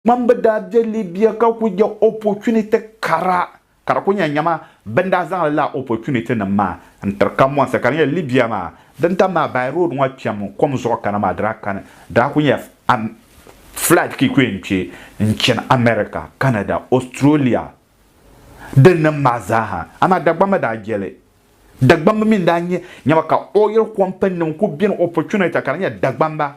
Ŋan bi daa be Libya ka ku nya opportunity kara, ka di ku nyɛ nyama bɛ ni daa zaŋli laa opportunity nim maa n tiri kambɔnsi ka di nyɛla Libya maa din tam maa by road ŋɔ kpɛm kom zuɣu kana maa di daa kani daa ku nyɛla am flight ka yi ku yɛn kpe n chani America, Canada, Australia din nim maa zaaha amaa Dagbamba mi daa jeli Dagbamba mi n daa nyɛ nyama ka oil company nim ku beni opportunity ka di nyɛla Dagbamba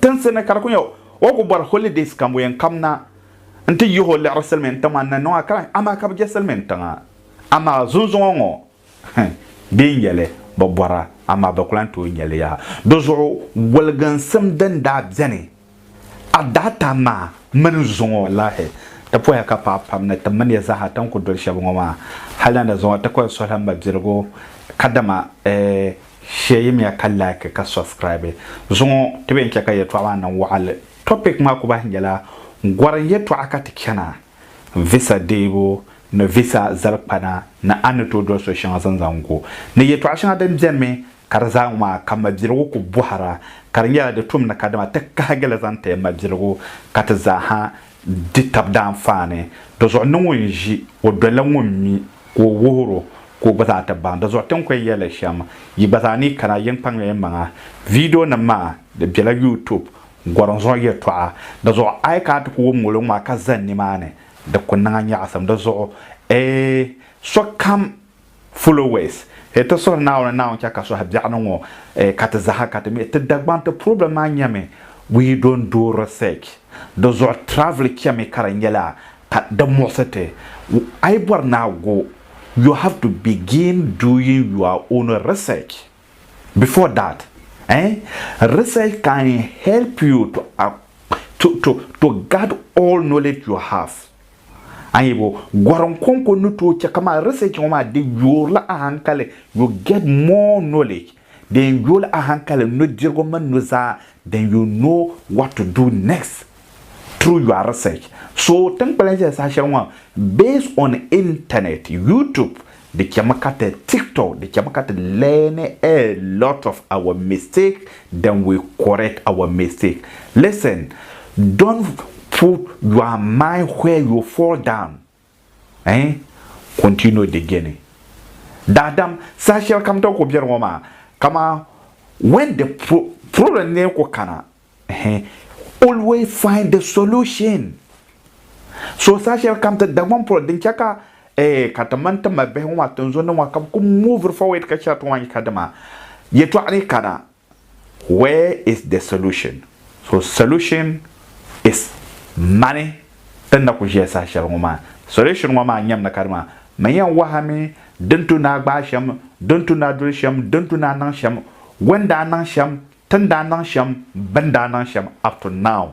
Tinsi ni ka di ku nya o ku bɔri holidays kamboyan kam na nti yihi o liɣiri silimiin tiŋ maa ni niŋ a kalahi amaa ka bi je silimiin tiŋa. Amaa zunzuŋɔ ŋɔ hih bɛ yi nyeli bi bɔra amaa bi ku lan tooi nyeli yaha. Di zuɣu goliginsim din daa beni a daata maa mini zuŋɔ walahi ti poya ka paai pam ni ti miniya zaaha ti ni ku doli shɛba ŋɔ maa. Hali na ni zuŋɔ ti ku yɛn suhila mabiligu kadama eh Share yimiya ka like ka subscribe. Zuŋɔ ti be n-chɛ ka yɛtɔɣa maa niŋ waɣinli. Topic maa ku bahi nyɛla Gɔrim yɛtɔɣa ka ti chana, visa deebu ni visa zali kpana ni a ni tooi doli so shɛŋa zaŋ zaŋ gu. Ni yɛtɔɣa shɛŋa din beni mi ka di zaa ŋɔ maa ka mabiligu ku bɔhira ka di nyɛla di tum ni ka dama ti kahigi li zaŋ ti mabiligu ka ti zaa ha di tab daanfaani. Di zuɣu ni ŋun ʒi o doli la ŋun mi. ka o wuhir o ka o gba zaa ti baŋ di zuɣu ti ni kɔhi yɛli shɛm yi gba zaa ni kana yi ni kpaŋmi yi maŋa. Viidionima maa di bela YouTube gɔrim zuɣu yɛtɔɣa di zuɣu a yi kana ti ku wum ŋoliŋ maa ka zani nimaani di ku niŋ a nyaɣisim di zuɣu ee sokam followers ee ti suhiri Naawuni Naawuni chɛ ka suhi biɛɣuni ŋɔ ee ka ti zaha ka ti mi ti Dagbaŋ ti problem maa nyɛmi we don't do research di zuɣu travel chɛmi ka di nyɛla Ka di muɣisi ti, a yi bɔri ni a go, you have to begin doing your own research before that eh, research can help you to to to to guard all knowledge you have. A yi bo, gɔrinkonko ni tooi chɛ ka maa research ŋɔ maa di yoorila a hankali, you get more knowledge. Din yooi a hankali nudirigu mini nuzaa din yuun no what to do next through your research. So tin kpalim zaya saha shɛli ŋɔ based on internet, YouTube, di chɛmi ka ti TikTok, di chɛmi ka ti learn a lot of our mistake then we correct our mistake. Listen, don't put your mind where you fall down. Eh? Continuo de geni. Daadam, saha shɛli kam tɔbu ku biɛri ŋɔ maa, kama when the pro, problem lee ku kana, eh, always find the solution. So saha shɛli kam ti Dagbaŋ polo din chɛ ka, eh, ka ti mini ti mali bihi ŋɔ maa, tinzunnim ŋɔ ka bɛ ku move forward ka shɛri ti ŋɔ a yi ka dima, yɛtɔɣa ni kana, Where is the solution? So solution is mani n na ku ʒiya saha shɛli ŋɔ maa. Solution ŋɔ maa nyamina ka dima man yɛn wahami din tu ni a gbaai shɛm, din tu ni a doli shɛm, din tu ni a niŋ shɛm, wɛn daa niŋ shɛm, tin daa niŋ shɛm, bɛn daa niŋ shɛm up to now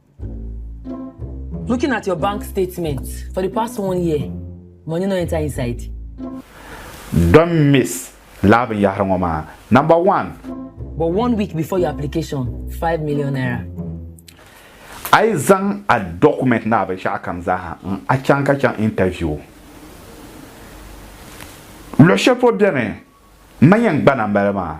Looking at your bank statement for the past one year, money no enter inside. Don't miss laa binyahari ŋɔ maa. Number one. But one week before your application, five million naira. A yi zaŋ a document ni a binshɛɣu kam zaaha n a chaŋ ka chaŋ interview. Luɣi shɛli polo beni n ma yɛn gbana m bala maa.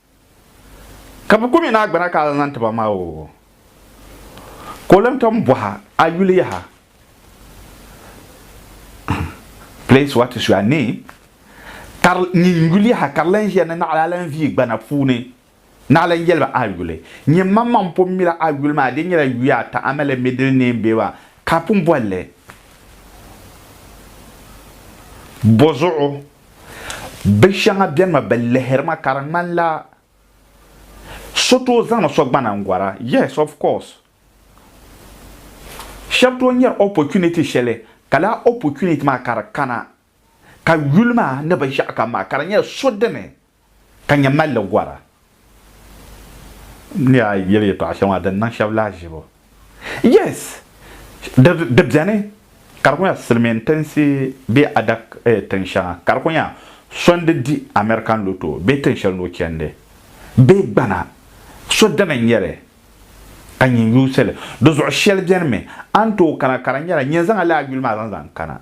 Ka bɛ kumi na gbana ka a zaŋ ti ba maa o ka o lan tom bɔha a yuli yaha. Please what is your name? Ka nyin yuli yaha ka di lan ʒiya ni naɣila a lan viyi gbana puuni ni a lan yɛli ba a yuli. Nyin mammaŋ n pun mila a yuli maa di nyɛla yuya ata a mali middle name bee ba ka a pun boli li bɔzuɣu. Bi shɛŋa bɛnimi bi lihiri ma ka di ŋmanila so tooi zaŋdi so gbana n gɔra. Yes, of course. Shɛba tooi nyari opportunity shɛli ka lala opportunity maa ka di kana ka yuli maa ni bi ʒiɛɣu kam maa ka di nyɛla so dini Ka nyɛ malli gɔra. N ni daa yeli yɛtɔɣa shɛŋa din niŋ shɛba lahiʒibu. Yes! Di beni ka di ku nya silimiin tinsi bee adak tin shɛŋa ka di ku nya so n-di di American Lotto bee tin shɛli ni o chandi bee gbana so dini n-nyɛ li ka nyin yuusi li. Di zuɣu shɛli beni mi a ni tooi kana ka di nyɛla nyin zaŋ a lala yuli maa zaŋ zaŋ kana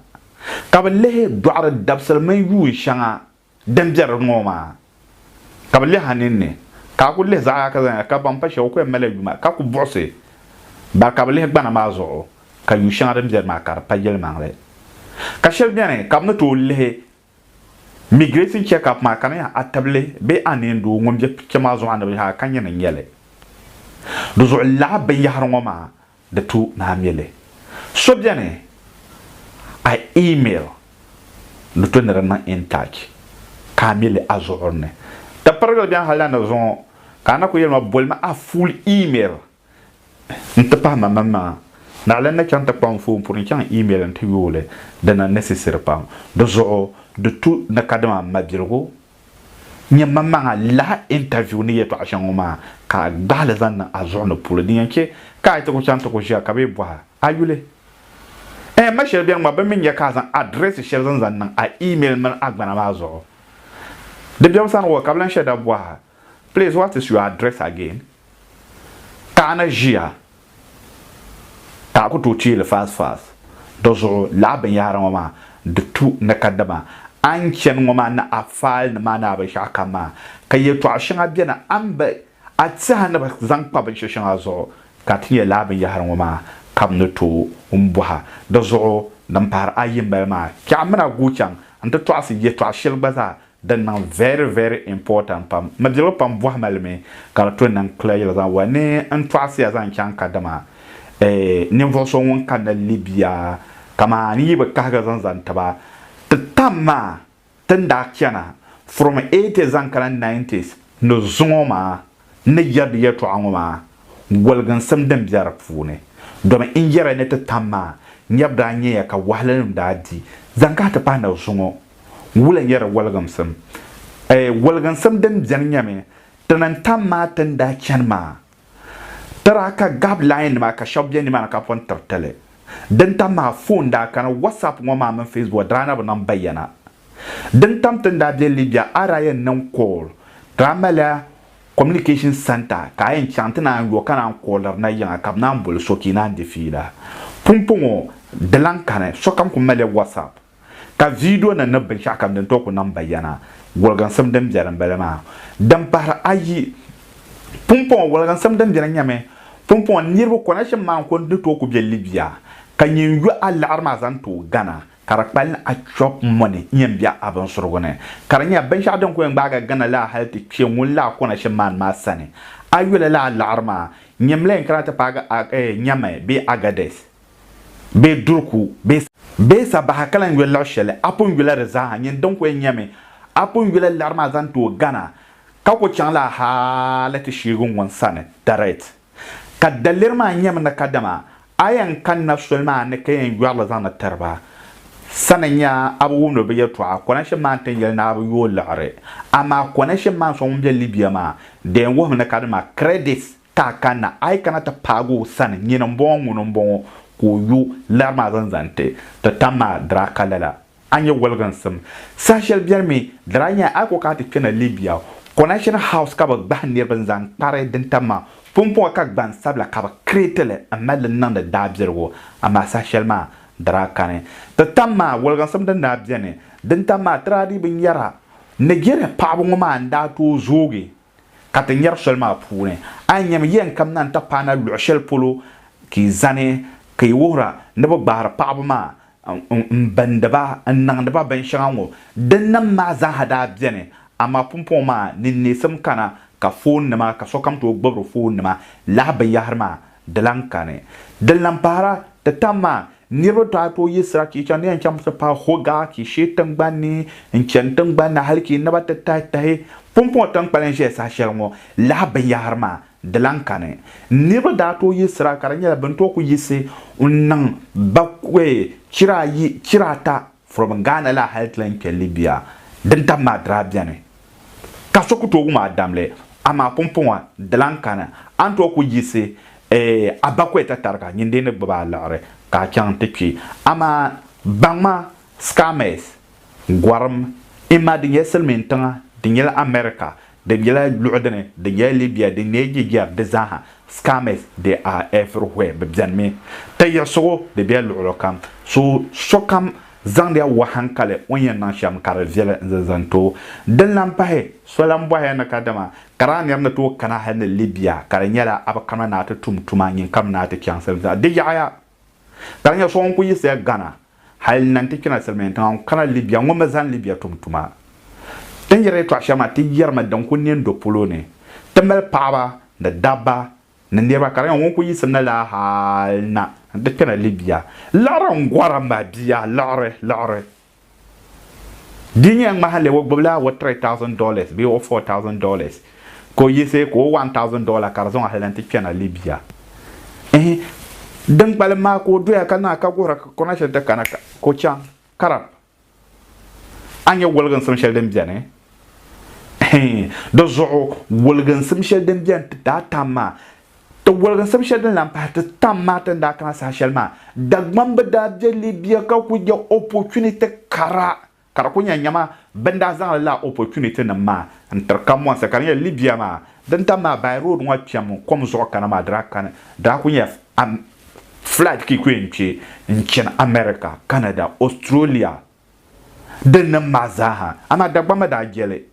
ka bi lihi dɔɣiri dabisili mini yuun shɛŋa Din biɛri di ŋɔ maa ka bɛ lihi a ninni, ka a ku lihi zaɣa ka zaŋ ya, ka ban pa shɛba ku yɛn mali ya yuma ka ku buɣisi ba ka bɛ lihi gbana maa zuɣu ka yu shɛŋa din biɛri maa ka di pa yɛlimaŋli. Ka shɛli bɛni ka bɛ ni tooi lihi migration check-up maa ka di nyɛ a tibili bee a neendoo ŋun be kpɛma zuɣu a ni bi yaha ka nyɛ ni n-nyɛ li. Di zuɣu lala binyɛhiri ŋɔ maa di tu ni a mili. So beni a email ni to ni di niŋ intouch ka a mili a zuɣuri ni. Di pirigili beni hal la ni zuŋɔ ka a na ku yeli ma bolimi a full email n ti pahi ma mini maŋa. Naɣila n ni chaŋ ti kpuɣi n foon puni n chaŋ n email n ti yooli. Di niŋ necessary pam. Di zuɣu di tu ni kadama mabiligu nyɛmaŋmaŋa lahi interview ni yɛtɔɣa shɛŋa ŋɔ maa ka a gbahi li zaŋ niŋ a zuɣu ni puuli din yɛn chɛ ka a yi ti ku chaŋ ti ku ʒiya ka bɛ yi bɔhi a yuli. Ɛɛh ma shɛli beni ŋɔ bɛ mi nya ka a zaŋ address shɛli zaŋ zaŋ niŋ a email mini agbana maa zuɣu di biɛbu sani ŋɔ ka bɛ lan shɛda bɔhi a please what is your address again? Taɣina ʒiya ka a ku tooi teeli fast fast. Di zuɣu lala binyɛhiri ŋɔ maa di tu ni ka dama a ni chani ŋɔ maa ni a faali ni maa ni a binshɛɣu kam maa ka yɛltɔɣa shɛŋa beni a ni bi a tiɛha ni bi zaŋ kpa binshɛ shɛŋa zuɣu ka ti nya lala binyɛhiri ŋɔ maa kam ni tooi n bɔha. Di zuɣu din pahiri ayi m-bala maa, Kpɛɣu m-min a guui chaŋ nti tɔɣisi yɛtɔɣ shɛli gba zaa Din niŋ very very important pam. Midirigu pam bɔhi ma li mi ka di to niŋ clear yɛli zaŋ wali ni n tɔɣisiya zaŋ chaŋ ka dama eh ninvuɣu so ŋun kanna Libya kaman n yi bi kahigi zaŋ zaŋ ti ba ti tam maa ti ni daa chana from 80 zaŋ kana 90s ni zuŋɔ maa N ni yɛridi yɛtɔɣa ŋɔ maa goliginsim din be di puuni, domi n yɛri ya ni ti tam maa nyɛbu daa nyɛ ya ka wahilinima daa di zaŋ kahi ti pahi na zuŋɔ wula nyɛ di goliginsim. Ɛ! Goliginsim din beni nyɛmi ti ni tam maa ti ni daa chani maa ti daa ka gab lain nima ka shɛba be nimaani ka pɔn tiritili. Din tam maa foon daa kani, WhatsApp ŋɔ maa mini Facebook daa na bi niŋ bayana. Din tam ti ni daa be Libya a daa yɛn niŋ call ka a mali communication centre ka a yɛn chaŋ ti naan yo ka naan calliri na yiŋa ka bɛ naan boli so ka yi naan di fiila. Pumpɔŋɔ di lan kani sokam ku mali WhatsApp ka video nim ni binshɛɣu kam din tooi ku niŋ bayana woliginsim din beni m-bala maa. Din pahiri ayi, pumpɔŋɔ woliginsim din beni nyɛmi pumpɔŋɔ niriba connection maa n-ku ni tooi ku be Libya ka nyin yo a liɣiri maa zaŋ tooi Ghana ka di kpali achɔb mɔni yɛn be a binsurigu ni, ka di nyɛ binshɛɣu din ku yɛn gbaagi Ghana laa hali ti kpe ŋun laa kɔna shɛm maani maa sani. A yuli laa laɣiri maa, nyini mi la yɛn kana ti paagi Ag-eh, Nyamai bee Agadez bee Durku bee Sa, bee Sa Baha ka lan yuli luɣ shɛli a pun yula di zaaha, nyini din ku yɛn nyɛ mi a pun yula laɣiri maa zaŋ tooi Ghana, ka ku chaŋ la hali ti sheegi ŋun sani direct. Ka daliri maa nyɛmi ni kadama a yɛn kanna soli maa ni ka yɛn yɔri li zaŋdi tiri ba sa ni nya a bi wumdi bɛ yɛtɔɣa, Kɔrɛnshim maa n-tin yɛli ni a bi yooi liɣiri. Amaa Kɔrɛnshim maa so ŋun be Libia maa daa yɛn wuhimi ni kadama Kɛrɛdis ka a kanna, a yi kana ti paagi o sani nyini m-bɔŋɔ ŋuni m-bɔŋɔ ka o yo liɣiri maa zaŋ zaŋ ti ti tam maa diri a ka lala. A nyɛ woliginsim. Saha shɛli beni mi, di daa nyɛla a ko ka a ti kpena Libya. Connection House ka bɛ gbahi niriba n-zaŋ kpari din tam maa pumpɔŋɔ ka gbansabila ka bɛ create li m-mali li niŋdi daabiligu. Amaa saha shɛli maa, di daa kani. Ti tam maa, woliginsim din daa beni. Din tam maa, ti daa dii bi nyara. Nigeria paɣaba ŋɔ maa n-daa tooi zoogi. ka ti nyari soli maa puuni. A yi nyami yɛnkam na n-ti paai na luɣ shɛli polo ka yi zani, ka yi wuhira ni bɛ gbaari paɣiba maa m-bindi ba n-niŋdi ba binshɛŋa ŋɔ, dinnim maa zaaha daa beni, amaa pumpɔŋɔ maa ni neesim kana ka foonnima ka sokam tooi gbibiri foonnima lahi binyɛhiri maa Di lan kani. Din lan pahira, ti tam maa, niriba dɔɣi tooi yi sirachicha ni yɛn chaŋ ti paai Hogah Kishee tiŋgbani ni n-chani tiŋgbani ni hal ki naba ti tahi tahi pumpɔŋɔ tiŋkpali n-ʒeya saha shɛli ŋɔ lahi binyɛhiri maa. Di lan kani. Niriba daa tooi yi sira ka di nyɛla bɛ ni tooi ku yiɣisi n-niŋ ba chira ayi chira ata From Ghana la hali ti lan kpe Libya din tabi maa daa beni ka so ku tooi wum a damli amaa pumpɔŋɔ di lan kani a ni tooi ku yiɣisi a bakɔi tatariga nyin dee ni gbibi a liɣiri ka a chaŋ ti kpi. Amaa baŋma, scammers, gɔrim, ima di nyɛ silimiintiŋa di nyɛla America Di nyɛla luɣi dini din nyɛla Libya din neei jijɛri di zaaha, scammers they are everywhere bɛ beni mi ti yiɣisigu bɛ bela luɣili kam so sokam zaŋdiya wuhi hankali o ni yɛn niŋ shɛm ka di viɛli n zaŋ zaŋ too din lan pahi so lan bɔhiya ni kadama ka daa niri ni tooi kana hali ni Libya ka di nyɛla a bi kana ni a ti tum tuma nyin kam ni a ti chaŋsim zaa di yaɣiya Ka di nyɛ so ŋun kuli yiɣisiya Ghana hali n-na nti kpina silimiin tiŋa n-kana Libya ŋun mi zani Libya tum tuma. Ti ni yiri yɛltɔɣa shɛli maa ti yɛrimi din kuli ne n-do polo ni. Ti mali paɣaba ni dabba ni niriba ka di nyɛ ŋun kuli yiɣisi na laa hali n-na nti kpina Libya. Liɣiri n-gɔra ma bia, liɣiri, liɣiri. Di nya ŋmahinli o gbibila o three thousand dollars bee o four thousand dollars ka o yiɣisi ka o one thousand dollar ka di zaŋ ahilana ti kpɛna Libya. Ehe, din kpalim maa ka o doya ka niŋ a ka guhira ka kɔrina shɛli ti kana ka o chaŋ Karab. A nya woliginsim shɛli din beni? Ehe, di zuɣu woliginsim shɛli din beni ti daai tam maa Ti woligi n sab shɛli din lan pahi ti tam maa ti ni daa kana saha shɛli maa, Dagbam bi daa be Libya ka ku nya opportunity kara ka di ku nya nyama bɛ ni daa zaŋli laa opportunity nim maa n tiri kamonsi ka di nyɛla Libya maa din tam maa by road ŋɔ kpɛm kom zuɣu kana maa di daa kani di daa ku nyɛla flight ka yi ku yɛn kpe n chani America, Canada, Australia, di niŋ maa zaaha, amaa Dagbamba daa je li.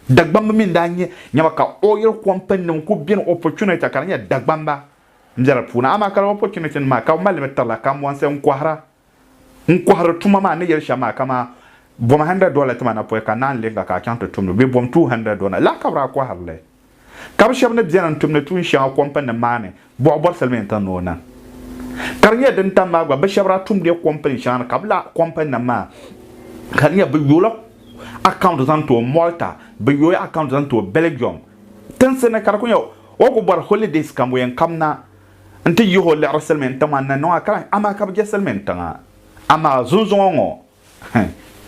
Dagbamba mi n-daa nyɛ nyaba ka oil companynim kuli beni opportunity ka di nyɛ Dagbamba m-be di puuni, amaa ka lala opportunity nim maa ka bɛ mali li mi tirila Kambɔnsi n-kɔhira. N kɔhiri tuma maa n ni yɛli shɛm maa kaman bom hundred dollar ti ma napɔi ka naanyi leei ka ka a chaŋ ti tumdi bɛ bom two hundred dollar lala ka bɛ daa kɔhiri li. ka bɛ shɛba ni beni n-tumdi tuun shɛŋa kɔmpininim maa ni buɣi bɔri silimiin tiŋ ni o niŋ ka di nyɛ din tam maa gba bɛ shɛba daa tumdila kɔmpini shɛŋa ni ka bɛ lahi kɔmpininim maa ka di nyɛ bɛ yoola akawunti zaŋ tooi Malta bɛ yoola akawunti zaŋ tooi Belgium tinsi ni ka di kuli nyɛ o ku bɔri holidays ka yɛn kam na nti yihi o liɣiri silimiin tiŋ maa ni niŋ a ka lahi amaa ka bɛ je silimiin tiŋa amaa zunzuŋɔ ŋɔ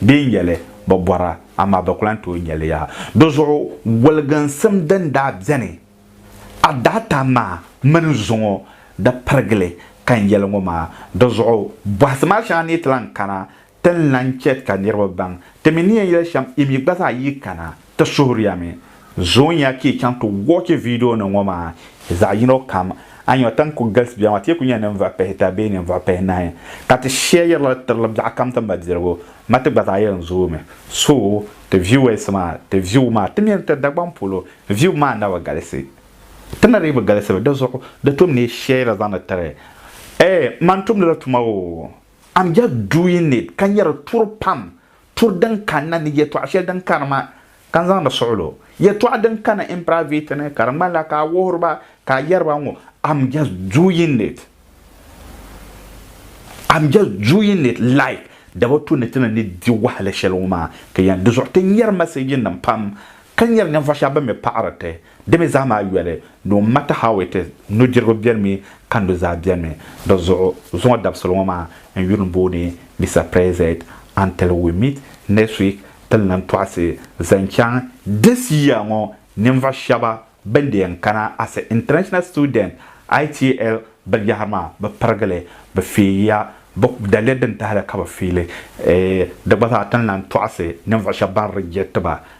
Bɛ ni nya li, bɛ bɔra, amaa bɛ ku lan tooi nya li yaha. Di zuɣu goliginsim din daa beni a daata maa mini zuŋɔ di pirigili ka n yɛli ŋɔ maa. Di zuɣu bɔhisi maa shɛŋa ni ti lan kana, ti ni lan chɛ ka niriba baŋ ti mi ni yɛn yɛli shɛm, yi mi gba zaa yi kana. Ti suhuriyami zoonya ka yi chaŋ ti wɔchi viidionima ŋɔ maa zaɣ yino kam, a ni nya tiŋ ku galisibiya maa ti yi ku nya ninvuɣ pihita bee ninvuɣ pihinahi ka ti shɛɛyirila li tirila biɛɣukam ti madirigu ma ti gba zaa yɛn zoomi. So ti viewers maa ti view maa ti mini ti Dagbaŋ polo view maa na bi galisi. Ti na dii bi galisi mi di zuɣu di tom ni yi shɛɛyira zaŋdi tiri Ɛɛh! Man tumdila tuma oo! I'm just doing it ka nya di tuuri pam Tur din kanna ni yɛtɔɣ shɛli din kani maa, ka n zaŋdi suɣil o. Yɛtɔɣ din kani imperavit ni, ka di ŋmanila ka a wuhiri ba ka a yɛri ba ŋɔ, I'm just doing it. I'm just doing it like daba tu ni ti ni ni di wahala shɛli ŋɔ maa, ka yɛn di zuɣu ti nyari mɛsɛɛjinim pam, ka nyari ninvuɣ shɛba bɛn mi paɣiri ti. Di mi zaa maa yoli, no matter how it is, nudirigu benimi ka nuzaa benimi. Di zuɣu, zuŋɔ dabisili ŋɔ maa n yuli booni Mister President until we meet next week ti lan tɔɣisi zaŋ chaŋ this year ŋɔ ninvuɣu shɛba bɛn di yɛn kana as a international student ITL binyahiri maa bɛ pirigili bɛ feeyiya bɛ daliya din tahili ka bɛ feeli eh di gba zaa ti ni lan tɔɣisi ninvuɣu shɛba ban reject ba